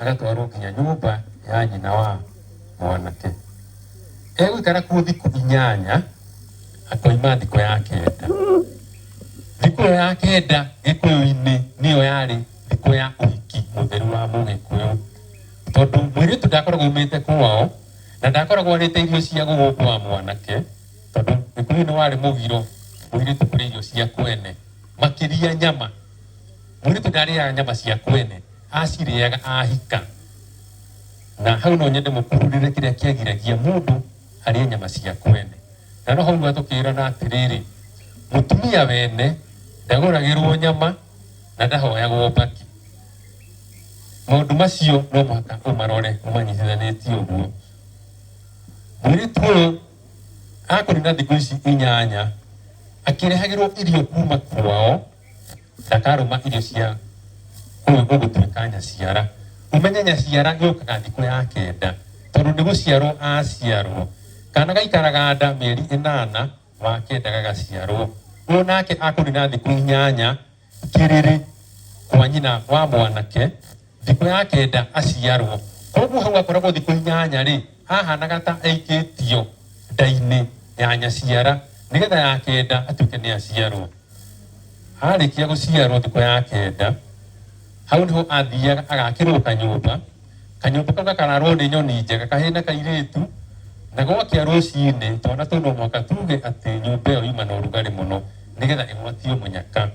Agatwarwo nginya nyũmba ya nyina wa mwanake. Egũikara kuo thikũ inyanya, akoima thikũ ya kenda. Thikũ ĩyo ya kenda Gĩkũyũ-inĩ nĩyo yarĩ thikũ ya ũhiki mũtheru wa Mũgĩkũyũ, tondũ mũirĩtu ndakoragwo aumĩte kwao na ndakoragwo arĩte irio cia gũkũ kwa mwanake, tondũ Gĩkũyũ-inĩ warĩ mũgiro mũirĩtu kũrĩa irio cia kwene, makĩria nyama. Mũirĩtu ndarĩaga nyama cia kwene, acirĩaga ahika. Na hau no nyende mũkururĩre kĩrĩa kĩagiragia mũndũ arĩe nyama cia kwene. Na no hau rĩu atũkĩrana atĩrĩrĩ, mũtumia wene ndagũragĩrwo nyama na ndahoyagwo mbakĩ. Maũndũ macio no mũhaka ũmarore ũmanyitithanĩtie ũguo. Mũirĩtu ũyũ akũnina thikũ ici inyanya akĩrehagĩrwo irio kuma kwao. Ndakarũma irio cia kũu gũgũtuĩka nyaciara. Ũmenye nyaciara yũkaga thikũ ya kenda, tondũ nĩ gũciarwo aciarwo. Kaana gaikaraga nda mĩeri ĩnana, wa kenda gagaciarwo. O nake akũnina thikũ inyanya kĩrĩrĩ kwa nyina wa mwanake. Thikũ ya kenda aciarwo. Kwoguo hau akoragwo thikũ inyanya-rĩ, hahanaga ta aikĩtio nda-inĩ ya nyaciara nĩgetha ya kenda atuĩke nĩ aciarwo. Arĩkia gũciarwo thikũ ya kenda, hau nĩho athiaga agakĩrwo kanyũmba. Kanyũmba kau gakararwo nĩ nyoni njega kahĩĩ na kairĩtu, na gwakĩa rũcinĩ twana tũu no mũhaka tuge atĩ nyũmba ĩyo yuma na ũrugarĩ mũno. nĩgetha ĩgwatio mũnyaka.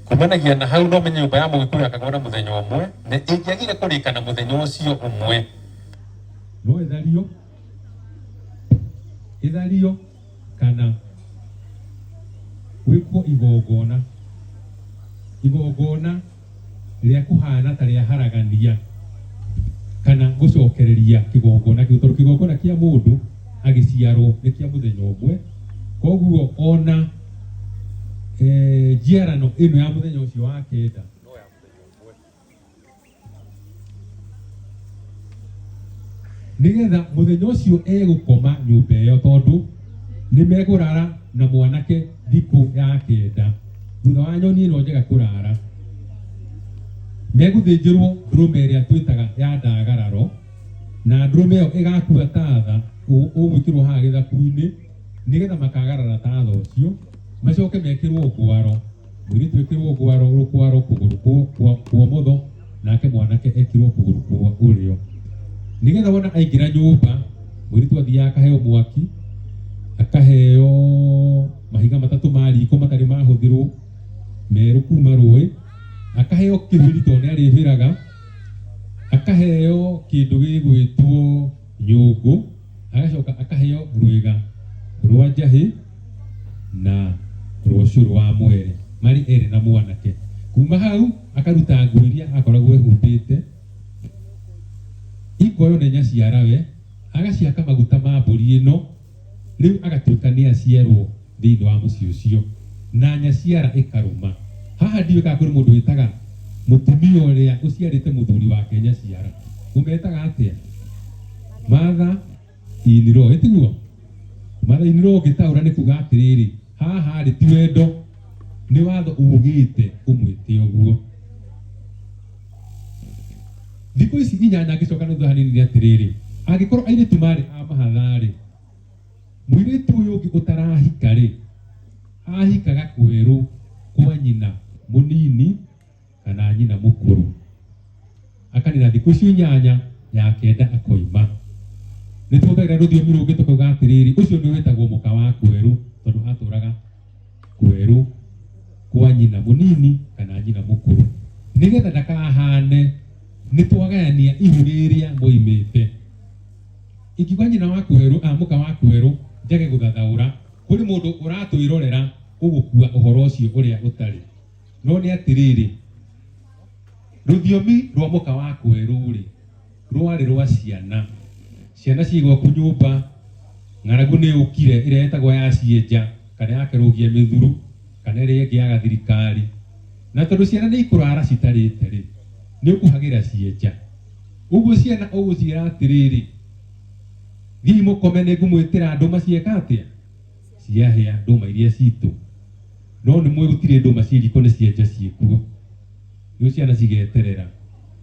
Kumanagia na hau no menye nyũmba ya Mũgĩkũyũ yakagwo na mũthenya ũmwe na ĩngĩagire kũrĩka na mũthenya ũcio ũmwe. No ĩthario, ĩthario kana gwĩkwo igongona, igongona rĩa kũhaana ta rĩa haragania kana gũcokereria kĩgongona kĩu tondũ kĩgongona kĩa mũndũ agĩciarwo nĩ kĩa mũthenya ũmwe koguo ona eh, njiarano ĩno ya mũthenya ũcio wa kenda nĩgetha mũthenya ũcio egũkoma nyũmba ĩyo tondũ nĩ mekũrara na mwanake thikũ ya kenda thutha wa nyoni ĩno njega kũrara megũthĩnjĩrwo ndũrũme ĩrĩa twĩtaga ya ndagararo na ndũrũme ĩyo ĩgakua tatha ũ- ũgwĩkĩrwo haha gĩthaku-inĩ nĩgetha makagarara tatha ũcio macoke mekĩrwo ngwaro Mũirĩtu ekĩrwo gwaro rũkwaro kũgũrũ kwa- kwa- kwa mũtho nake mwanake ekirwo kũgũrũ kwa ũrĩo nĩgetha wona aingĩra nyũmba mũirĩtu athiaga akaheo mwaki akaheo mahiga matatũ ma riko matarĩ mahũthĩrwo merũ kuma rũĩ akaheo kĩhũri tondũ nĩ arĩhĩraga akaheo kĩndũ gĩgwĩtwo nyũngũ agacoka akaheo rwĩga rwa njahĩ na rwa ũcũrũ wa mwere marĩ erĩ na mwanake kuma hau akaruta nguo iria akoragwo ehumbĩte ikoyo nĩ nyaciarawe agaciaka maguta ma mbũri ĩno rĩu agatuĩka nĩ aciarwo thĩinĩ wa mũciĩ ũcio, na nyaciara ĩkarũma. Haha ndiũĩ kana kũrĩ mũndũ wĩtaga mũtumia ũrĩa ũciarĩte mũthuri wake nyaciara, ũmetaga atĩa? Matha iniro, ĩtiguo? Matha iniro ũngĩtaũra nĩ kuga atĩrĩrĩ, haha rĩ ti wendo, nĩ watho ugĩte ũmwĩte ũguo. Thikũ ici inyanya ngĩcoka na thutha hanini nĩ atĩrĩrĩ, angĩkorwo airĩtu marĩ a mahatha rĩ, Mũirĩtu ũyũ ũngĩ ũtarahika-rĩ, ahikaga kwerũ kwa nyina mũnini kana nyina mũkũrũ. Akanina thikũ icio inyanya, ya kenda akoima. Nĩ tũhũthagĩra rũthiomi rũngĩ tũkauga atĩrĩrĩ, ũcio nĩ wĩtagwo mũka wa kwerũ tondũ atũraga kwerũ kwa nyina mũnini kana nyina mũkũrũ. Nĩgetha ndakahane nĩ twagayania ihu rĩrĩa moimĩte. Ingiuga nyina wa kwerũ a mũka wa kwerũ njage gũthathaũra, kũrĩ mũndũ ũratwĩrorera ũgũkua ũhoro ũcio ũrĩa ũtarĩ. No nĩ atĩrĩrĩ, rũthiomi rwa mũka wa kwerũ-rĩ, rwarĩ rwa ciana. Ciana ciĩ gwaku nyũmba, ng'aragu nĩ yũkire, ĩrĩa ĩtagwo ya cienja, kana ya kerũgia mĩthuru, kana ĩrĩa ĩngĩ ya gathirikari. Na tondũ ciana nĩ ikũrara citarĩte-rĩ, nĩ ũkuhagĩra cienja. Ũguo ciana ũgũciĩra atĩrĩrĩ, Thiĩi mũkome, nĩngũmwĩtĩra ndũma cieka atĩa? Ciahĩa, ndũma iria ciitũ. No nĩmũũĩ gũtirĩ ndũma ciĩ riiko nĩcienja ciĩ kuo. Rĩu ciana cigeterera.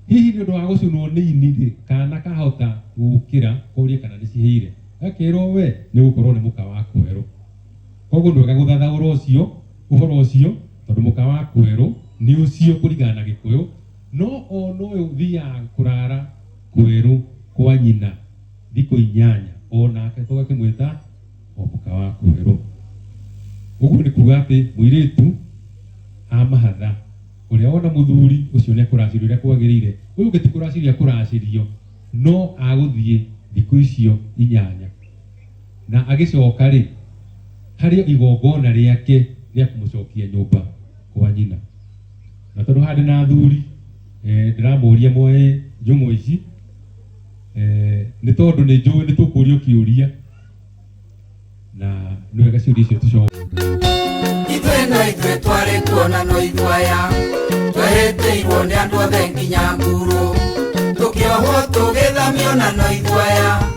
Hihi nĩ ũndũ wa gũcũnwo nĩ ini-rĩ, kaana kahota gũũkĩra korie kana nĩcihĩire? Gakeerwo we, nĩgũkorwo nĩ mũka wa kwerũ. Kwoguo nĩ wega gũthathaũra ũcio, ũhoro ũcio, tondũ mũka wa kwerũ nĩ ũcio kũringana na Gĩkũyũ, No o nowe ũthiaga kũrara kweru kwa nyina thikũ inyanya o nake tũgakĩmwĩta o mũka wa kweru. Ũguo nĩ kuga atĩ mũirĩtu amahatha ũrĩa wona mũthuri ũcio nĩ ekũracĩrio ũrĩa kwagĩrĩire, ũyũ ũngĩ ti kũracĩrio ekũracĩrio, no agũthiĩ thikũ icio inyanya na agĩcoka rĩ, harĩ igongona rĩake rĩa kũmũcokia nyũmba kwa nyina. na tondå handä na athuri eh, ndä ramå ria moe njång'å ici eh, nä tondå nä njå nä tå kå rio kä å ria na nä wega ciå ria icio tå ithuĩ no ithuĩ twarĩ kuo na no ithuĩ aya twehĩtĩirwo nĩ andũ othe nginya nguru tũkĩohwo tũgĩthamio na no ithuĩ aya